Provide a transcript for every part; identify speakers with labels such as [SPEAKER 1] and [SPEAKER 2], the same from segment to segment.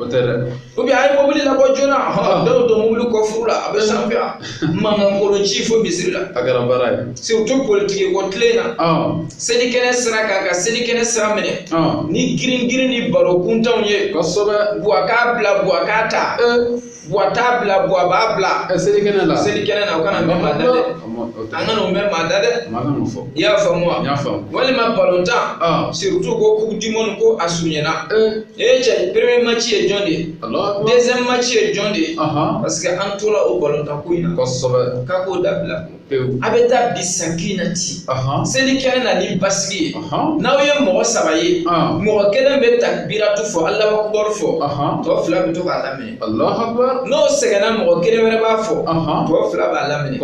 [SPEAKER 1] o tɛ dɛ ou bien a ye mobili labɔ joona a bɛɛ y'o to mobili kɔfuru la a bɛ sanfɛ mankan kolo ci fo misiri la a kɛra baara ye surtout politiki ko tile in na selikɛnɛ sira kan ka selikɛnɛ sira minɛ ni girin girin ni baro kuntanw ye kosɛbɛ buwa k'a bila buwa k'a ta buwa t'a bila buwa b'a bila Ɛ selikɛnɛ la selikɛnɛ na o kana mɛn maa da dɛ an kana o mɛn maa da dɛ maa kana o fɔ i y'a faamu wa n y'a faamu walima balontan aa surtout ko coupe du monde ko a surunyana ee ee cɛ premier match ye jɔn de ye Alahu akibaru deuxième match ye jɔn de ye ahan parce que an tora o balontan ko in na kosɛbɛ k'a k'o dabila a bɛ taa bi sakinati seli kɛnɛ na ni basigi ye n'aw ye mɔgɔ saba ye mɔgɔ kelen bɛ takbiratu fɔ Alahu akibaru fɔ tɔ fila bɛ to k'a laminɛ n'o sɛgɛnna mɔgɔ kelen wɛrɛ b'a fɔ tɔ fila b'a laminɛ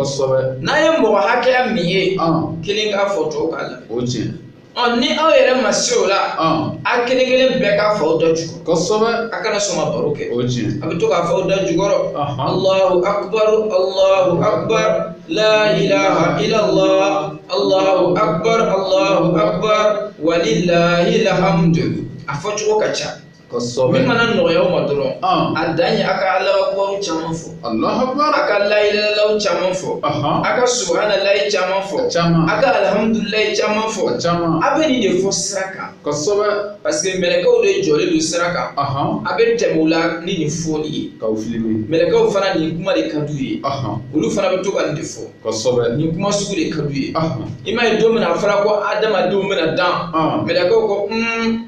[SPEAKER 1] n'a ye mɔgɔ hakɛya min ye kelen k'a fɔ tɔw k'a laminɛ o ye tiɲɛ ye. ɔ ni aw yɛrɛ ma se o la ɔn a kelen kelen bɛɛ k'a f'aw da jukɔrɔ kosɛbɛ a kana sɔn ka baro kɛ o ye tiɲɛ a bɛ to k'a f'aw da jukɔrɔ Ɔhɔn. alahu akubar alahu akubar la ilaha illallah alahu akubar alahu akubar walilahi lahamdu a fɔcogo ka ca kosɛbɛ min mana nɔgɔya aw ma dɔrɔn Ɔn. a dan ye a ka alabakubaw caman fɔ alahu akbar a ka layilalaw caman fɔ Ɔhɔn. a ka subahanalayi caman fɔ Caman. a ka alihamudulilayi caman fɔ caman a bɛ nin de fɔ sira kan kosɛbɛ parce que mɛlɛkɛw de jɔlen don sira kan ahɔn a bɛ tɛmɛ u la ni nin fɔli ye k'aw filime mɛlɛkɛw fana nin kuma de ka d'u ye ahɔn olu fana bɛ to ka nin de fɔ kosɛbɛ nin kuma sugu de ka d'u ye ahɔn i m'a ye don min na a fɔra ko adamadenw bɛna dan Ɔn. mɛlɛkɛw ko un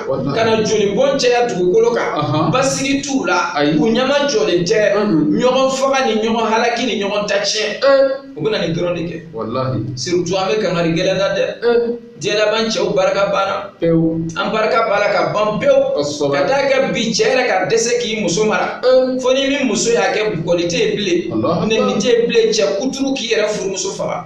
[SPEAKER 1] ka na joli bɔn caya dugukolo kan basigi t'u la u ɲɛmajɔlen tɛ ɲɔgɔn faga ni ɲɔgɔn halaki ni ɲɔgɔn ta tiɲɛ u bɛna nin dɔrɔn de kɛ surtout an bɛ kangari gɛlɛn na dɛ diɲɛ laban cɛw barika banna an barika b'a la ka ban pewu ka taa kɛ bi cɛ yɛrɛ ka dɛsɛ k'i muso mara fo ni min muso y'a kɛ bugɔli tɛ yen bilen nɛni tɛ yen bilen cɛ kuturu k'i yɛrɛ furumuso faga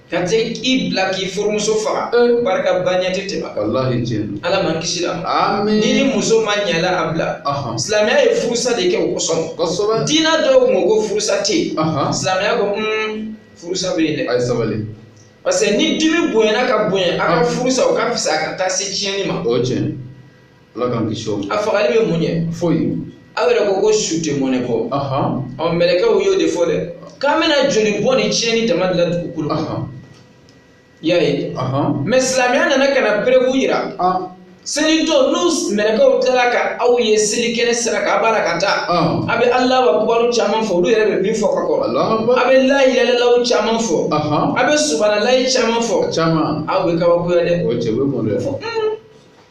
[SPEAKER 1] ka tɛ i bila k'i furumuso faga Eh. barika ba ɲɛ tɛ tɛmɛ a kan walahi tiɲɛ don ala m'an kisila amiina ni muso ma ɲɛ i la a bila ahan silamɛya ye furusa de kɛ o kosɔn kosɛbɛ diina dɔw kun ko ko furusa tɛ yen ahan silamɛya ko un furusa bɛ yen dɛ a ye sabali parce que ni dimi bonyana ka bonya a ka Ah. furusa o ka fisa a ka taa se tiɲɛni ma o ye tiɲɛ ala k'an kisi o ma a fagali bɛ mun ɲɛ foyi aw yɛrɛ ko ko su tɛ mɔnɛ bɔ ɔ mɛlɛkɛw y'o de fɔ dɛ k'an bɛna joli bɔn ni tiɲɛni dama de la dugukolo kan y'a ye mais silamɛya nana ka na preuve jira seli don ni mɛlɛkɛw tilala ka aw ye seli kɛnɛ sira kan a b'a la ka taa a bɛ alahu akubaru caman fɔ olu yɛrɛ bɛ min fɔ ka kɔrɔ a bɛ layilalaw caman fɔ a bɛ subanalayi caman fɔ u bɛ kabakoya dɛ o cɛ bɛ mɔlɛ fɔ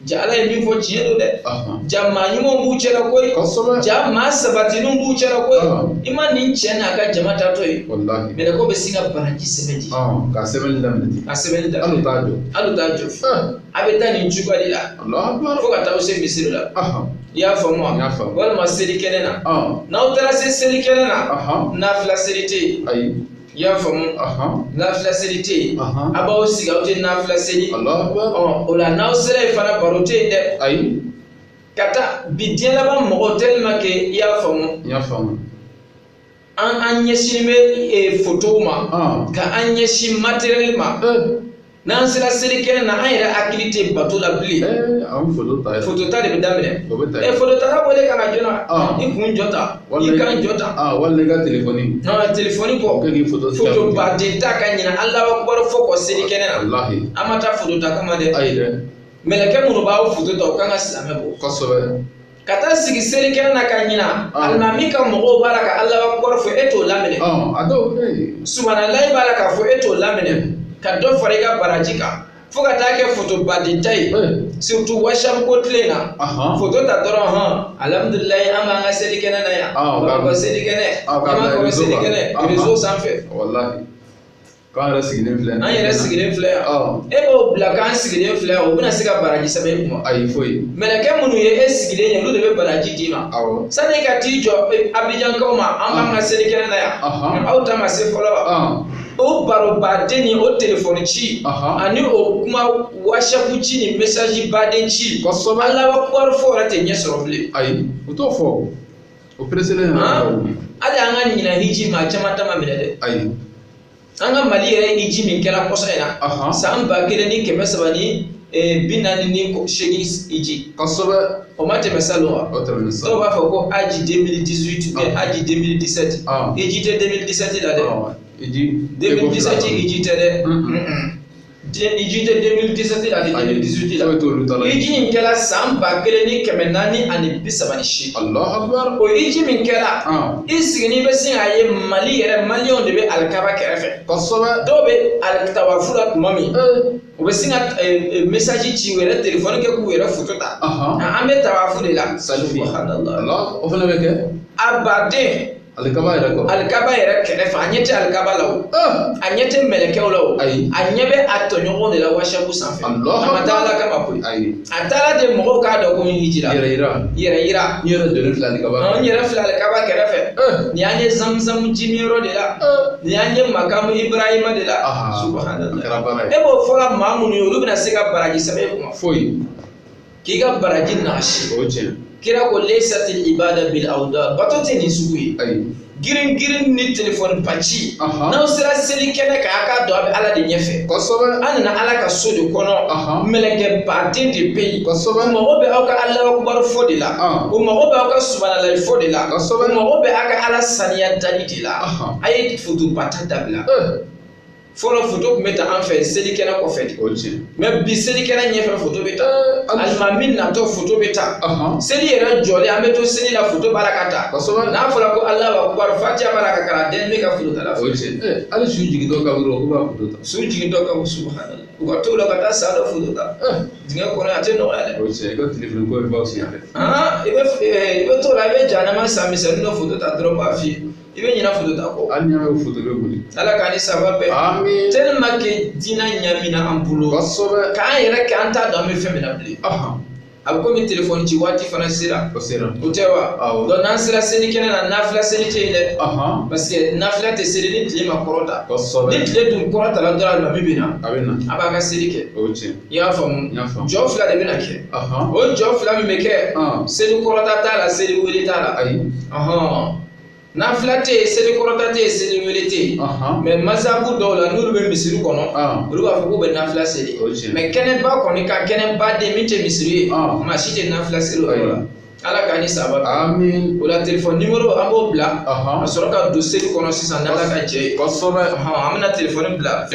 [SPEAKER 1] ja ala ye min fɔ tiɲɛ don dɛ Ahan. ja maa ɲumanw b'u cɛla koyi kosɛbɛ ja maa sabatilenw b'u cɛla koyi Ahan. i ma nin cɛ n'a ka jama taatɔ ye walahi mɛlɛkɛw bɛ sin ka baraji sɛbɛnni Ɔn, ka sɛbɛnni daminɛ ten a sɛbɛnni da hali u t'a jɔ hali u t'a jɔ fo Ɛɛ, a bɛ taa nin cogoya de la Alahu akibaru. fo ka taa aw se misiri la Ahan, i y'a faamu wa N y'a faamu. walima selikɛnɛ na ɔn, n'aw taara se selikɛnɛ na ahan, nafila seli tɛ yen ayi I y'a faamu nafila seli tɛ yen aw b'aw sigi aw tɛ nafila seli o la n'aw sera yen fana baro tɛ yen dɛ ayi ka taa bi diɲɛ laban mɔgɔ tellement que i y'a faamu n y'a faamu an an ɲɛsin bɛ fotow ma ka an ɲɛsin matériel ma n'an sera selikɛnɛ na an yɛrɛ hakili tɛ bato la bilen Eh, an bɛ foto ta yɛrɛ. foto ta de bɛ daminɛ O bɛ ta ɛ fototala wele ka na joona Ah. i ka n ja ta i Walima- k'an ja ta Ah, wali ne ka telefɔni. nɔnɔ telefɔni O kɛ kɔ k'i foto sira foto minɛ. baden ta ka ɲinɛ alahu akibaru fɔ kɔ selikɛnɛ na Walahi. an ma taa foto ta kama dɛ Ayi dɛ. mɛlɛkɛ minnu b'aw foto ta u kan ka silamɛ bɔ Kosɛbɛ. ka taa sigi selikɛnɛ na ka ɲina ah. alimami ka mɔgɔw b'a la ka alahu akibaru fɔ e t'o laminɛ ah, subuhanalayi b'a la k'a fɔ e t'o laminɛ ka dɔ fara i ka baraji kan fo ka taa kɛ foto baden ta ye eh. surtout whatsapp ko tile na foto ta dɔrɔn hɔn alhamdulilayi an b'an ka selikɛnɛ na yan ah, an b'a fɔ selikɛnɛ an b'a fɔ selikɛnɛ rezo sanfɛ k'an yɛrɛ sigilen filɛ an yɛrɛ sigilen filɛ yan e b'o bila k'an sigilen filɛ o bɛna se ka baraji sɛbɛn e kunna ayi foyi mɛlɛkɛ minnu ye e sigilen ye olu de bɛ baraji d'i ma awɔ sani ka t'i jɔ e, abijankaw ma an b'an ka selikɛnɛ na yan aw ta ma se fɔlɔ o baro baden ni o telefɔni ci ani o kuma wasapu ci ni mesaji baden ci kosɛbɛ alahu akibaru fɔ yɛrɛ tɛ ɲɛ sɔrɔ bilen ayi o t'o fɔ o pereselen yɛrɛ hali an ka ɲinan hiji maa caman ta ma minɛ dɛ ayi an ka mali yɛrɛ hiji min kɛra kɔsa in na san ba kelen ni kɛmɛ saba ni eh, bi naani ni seegin hiji kosɛbɛ o ma tɛmɛ salon wa dɔw b'a fɔ ko hadj 2018 mais hadj 2017 hiji tɛ 2017 la dɛ 2017 hiji tɛ dɛ Den- hiji tɛ 2017 la a tɛ 2018 la foyi t'olu ta la hiji in kɛra san ba kelen ni kɛmɛ naani ani bi saba ni seegin alahu akibaru o hiji min kɛra Ɔn. i sigilen bɛ sin k'a ye mali yɛrɛ maliyɛnw de bɛ alikaba kɛrɛfɛ kosɛbɛ dɔw bɛ tawafu la tuma min ee u bɛ sin ka mesaji ci u yɛrɛ telefɔni kɛ k'u yɛrɛ foto ta Ahan. k'an bɛ tawafu de la Selfie. Subhanallah. alahu o fana bɛ kɛ a baden alikaba yɛrɛ kɔrɔ alikaba yɛrɛ kɛrɛfɛ a ɲɛ tɛ alikaba la o a ɲɛ tɛ mɛlɛkɛw la o ayi a ɲɛ bɛ a tɔɲɔgɔnw de la WhatsApp sanfɛ a ma taa ala kama koyi ayi a taara de mɔgɔw k'a dɔn ko n hijira yɛrɛ yira yɛrɛ yira n yɛrɛ donnen filɛ alikaba n yɛrɛ filɛ alikaba kɛrɛfɛ nin y'an ye zamuzamu jimin yɔrɔ de la nin y'an ye makamu ibrahima de la subahana e b'o fɔ la maa minnu ye olu bɛna se ka baraji sɛbɛn e kunna foyi k'i ka baraji nagasi o tiɲɛ kira ko leysati ibada bil awda bato tɛ nin sugu ye ayi girin girin ni telefɔniba ci Aha. n'aw sera seli kɛnɛ kan a k'a dɔn a bɛ ala de ɲɛfɛ kosɛbɛ an nana ala ka so de kɔnɔ Aha. mɛlɛkɛ baden de bɛ yen kosɛbɛ o mago bɛ aw ka alahu akubaru fɔ de la Ah. o mago bɛ aw ka subanalayi fɔ de la Kosɛbɛ. o mago bɛ aw ka ala saniya dali de la Aha. a ye fotoba ta dabila Eh, fɔlɔ foto tun bɛ ta an fɛ selikɛnɛ kɔfɛ de o tiɲɛ mɛ bi selikɛnɛ ɲɛfɛ foto bɛ ta Hali- alimami natɔ foto bɛ ta Ɔhɔn. seli yɛrɛ jɔlen an bɛ to seli la foto b'a la ka ta Kosɛbɛ. n'a fɔra ko alahu akubar fatiya b'a la ka kalan den bɛ ka foto ta la o tiɲɛ ɛ hali su jigintɔ kaburu kɔnɔ u b'a foto ta su jigintɔ ka subahana u ka t'o la ka taa sa dɔ foto ta ɛ dingɛ kɔnɔ a tɛ nɔgɔya dɛ o tiɲɛ i ka telefɔni ko bɛ ban o sen fɛ aa i bɛ i bɛ t'o la i bɛ jahanama sa misɛnnin dɔ foto ta dɔrɔn b'a f'i ye i bɛ ɲinɛ foto ta kɔ hali n'i y'a ye foto bɛ boli ala k'an ni saba bɛɛ amin tellement que diinɛ ɲamina an bolo kosɛbɛ k'an yɛrɛ kɛ an t'a dɔn an bɛ fɛn min na bilen ahan a bɛ komi telefɔni ci waati fana sera o sera o tɛ wa Awɔ. donc n'an sera seli kɛnɛ na nafila seli tɛ yen dɛ ahan parce que nafila tɛ seli ni tile ma kɔrɔta ni kosɛbɛ tile dun kɔrɔtala dɔrɔn alimami bɛ na a bɛ na a b'a ka seli kɛ o ye tiɲɛ i y'a faamu N y'a faamu. jɔ fila de bɛna kɛ ahan o jɔ fila min bɛ kɛ Ɔn. seli kɔrɔta t'a la seli wele t'a la ayi ɔhɔn nafila tɛ yen seli kɔrɔta tɛ yen seli wele tɛ yen mɛ mazabu dɔw la n'olu bɛ misiri kɔnɔ olu b'a fɔ k'u bɛ nafila seli mɛ kɛnɛba kɔni kan kɛnɛba den min tɛ misiri ye maa si tɛ nafila seli o yɔrɔ la ala k'an ni saba amin o la telefɔni nimoro an b'o bila ka sɔrɔ ka don seli kɔnɔ sisan n'ala ka jɛ ye kosɛbɛ an bɛna telefɔni bila